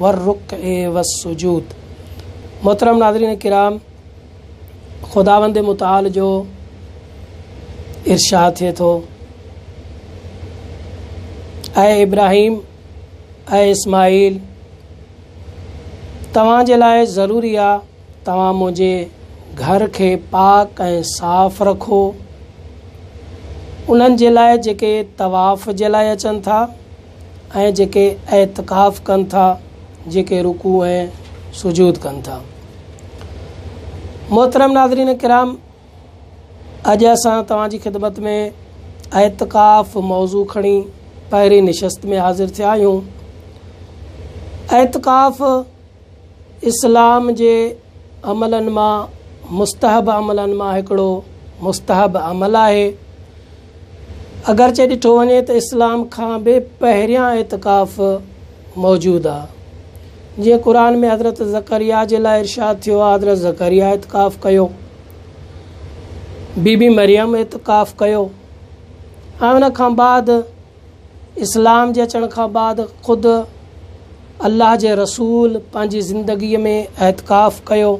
والرڪع والسجود محترم ناظرين ڪرام خداوند متعال جو ارشاد ٿئي ٿو اي ابراهيم اي اسماعيل توهان جي لاء ضروري آ توهان منهنجي گھر کي پاڪ ۽ صاف رکو انهن جي لاء جيڪي طواف جي لاء اچن ٿا ۽ جيڪي اعتڪاف ڪن ٿا، جيڪي رڪوع ۽ سجود ڪن ٿا. محترم ناظرين ڪرام اڄ اسان توهان جي خدمت ۾ اعتڪاف موضوع کڻي پهرين نشست ۾ حاضر ٿيا آهيون اعتڪاف اسلام جي عملن مان مستحب عملن مان هڪڙو مستحب عمل آهي اگرچه ڏٺو وڃي ته اسلام کان به پهريان اعتڪاف موجود آ. جيئن قرآن ۾ حضرت زڪريا جي لاء ارشاد ٿيو آ حضرت زڪريا اعتڪاف ڪيو، بي بي مريم اعتڪاف ڪيو ۽ ان کان بعد اسلام جي اچڻ کان بعد خود الله جي رسول پنهنجي زندگي ۾ اعتڪاف ڪيو.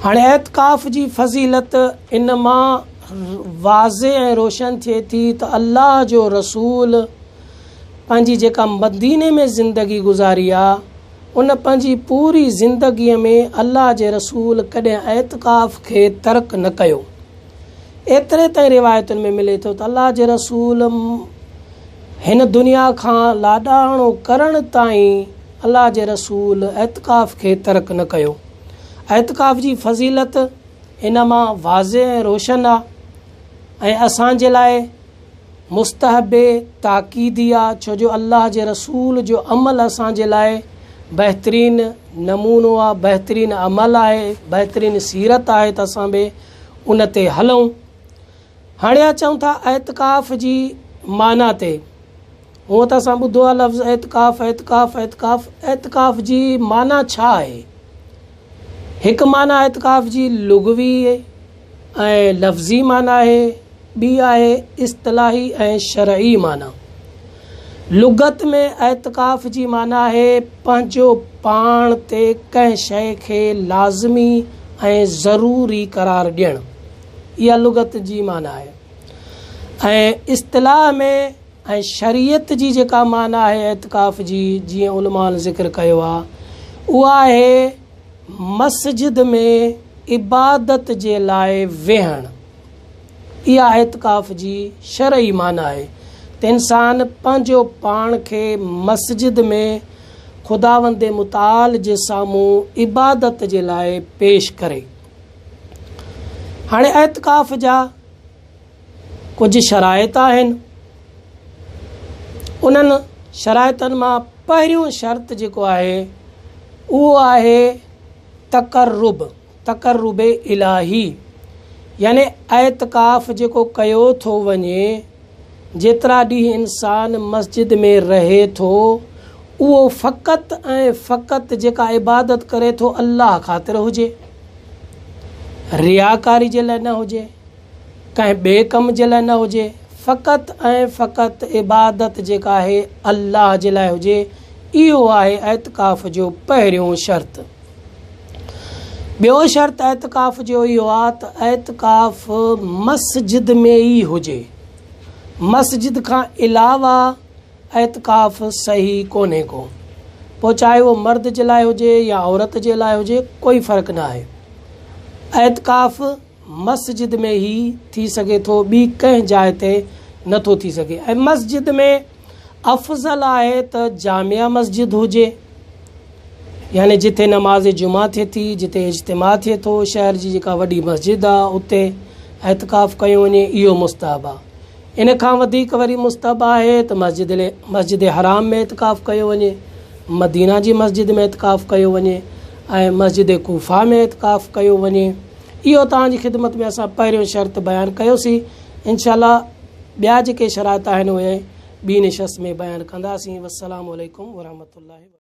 هاڻي اعتڪاف جي فضيلت ان مان واضح ۽ روشن ٿئي ٿي ته الله جو رسول پنهنجي جيڪا مديني ۾ زندگي گذاري آ ان پنهنجي پوري زندگي ۾ الله جي رسول ڪڏهن اعتڪاف کي ترڪ نه ڪيو. ايتري تائين روايتن ۾ ملي ٿو ته الله جي رسول م هن دنيا کان لاڏاڻو ڪرڻ تائين الله جي رسول اعتڪاف کي ترڪ نه ڪيو. اعتڪاف جي فضيلت ان مان واضح ۽ روشن آ ۽ اسان جي لاء مستحب تاڪيدي آ ڇو جو الله جي رسول جو عمل اسان جي لاء بهترين نمونو آ، بهترين عمل آهي، بهترين سيرت آهي ته اسان به ان تي هلئون. هاڻي اچون ٿا اعتڪاف جي معنيٰ تي. هونء ته اسان ٻڌو آهي لفظ اعتڪاف، اعتڪاف، اعتڪاف. اعتڪاف جي معنيٰ ڇا آهي؟ هڪ معنيٰ اعتڪاف جي لغوي ۽ لفظي معنيٰ آهي، ٻي آهي اصطلاحي ۽ شرعي معنيٰ. لغت ۾ اعتڪاف جي معنيٰ آهي پنهنجو پاڻ تي ڪنهن شيء کي لازمي ۽ ضروري قرار ڏيڻ. اها لغت جي معنيٰ آهي ۽ اصطلاح ۾ ۽ شريعت جي جيڪا معنيٰ آهي اعتڪاف جي جيئن علمائن ذڪر ڪيو آهي اها آهي مسجد ۾ عبادت جي لاء ويهڻ. اها اعتڪاف جي شرعي معنيٰ آهي ته انسان پنهنجو پاڻ کي مسجد ۾ خداوند متعال جي سامهون عبادت جي لاء پيش ڪري. هاڻي اعتڪاف جا ڪجهه شرائط آهن. انهن شرائطن مان پهريون شرط جيڪو آهي اهو آهي تقرب. تقرب الاهي يعني اعتڪاف جيڪو ڪيو ٿو وڃي، جيترا ڏينهن انسان مسجد ۾ رهي ٿو، اهو فقط ۽ فقط جيڪا عبادت ڪري ٿو الله خاطر هجي، رياڪاري جي لاء نه هجي. ڪنهن ٻئي ڪم جي لاء نه هجي، فقط ۽ فقط عبادت جيڪا آهي الله جي لاء هجي، اهو آهي اعتڪاف جو پهريون شرط. ٻيو شرط اعتڪاف جو اهو آ ته اعتڪاف مسجد ۾ ئي هجي، مسجد کان علاوه اعتڪاف صحيح ڪونهي ڪو، پوء چاهي اهو مرد جي لاء هجي يا عورت جي لاء هجي ڪوئي فرق نه آهي. اعتڪاف. مسجد ۾ هي ٿي سگهي ٿو ٻي ڪنهن جاء تي نه ٿو ٿي سگهي ۽ مسجد ۾ افضل آهي ته جامع مسجد هجي يعني جتي نماز جمعه ٿئي ٿي جتي اجتماع ٿئي ٿو شهر جي جيڪا وڏي مسجد آ اتي اعتڪاف ڪيو وڃي اهو مستحب آ ان کان وڌيڪ وري مستحب آهي ته مسجد مسجد حرام ۾ اعتڪاف ڪيو وڃي مدينه جي مسجد ۾ اعتڪاف ڪيو وڃي ۽ مسجد ڪوفا ۾ اعتڪاف ڪيو وڃي اهو توهان جي خدمت ۾ اسان پهريون شرط بيان ڪيوسين انشاء الله ٻيا جيڪي شرائط آهن اهي ٻي نشست ۾ بيان ڪنداسين والسلام عليڪم ورحمة الله وبرڪاته.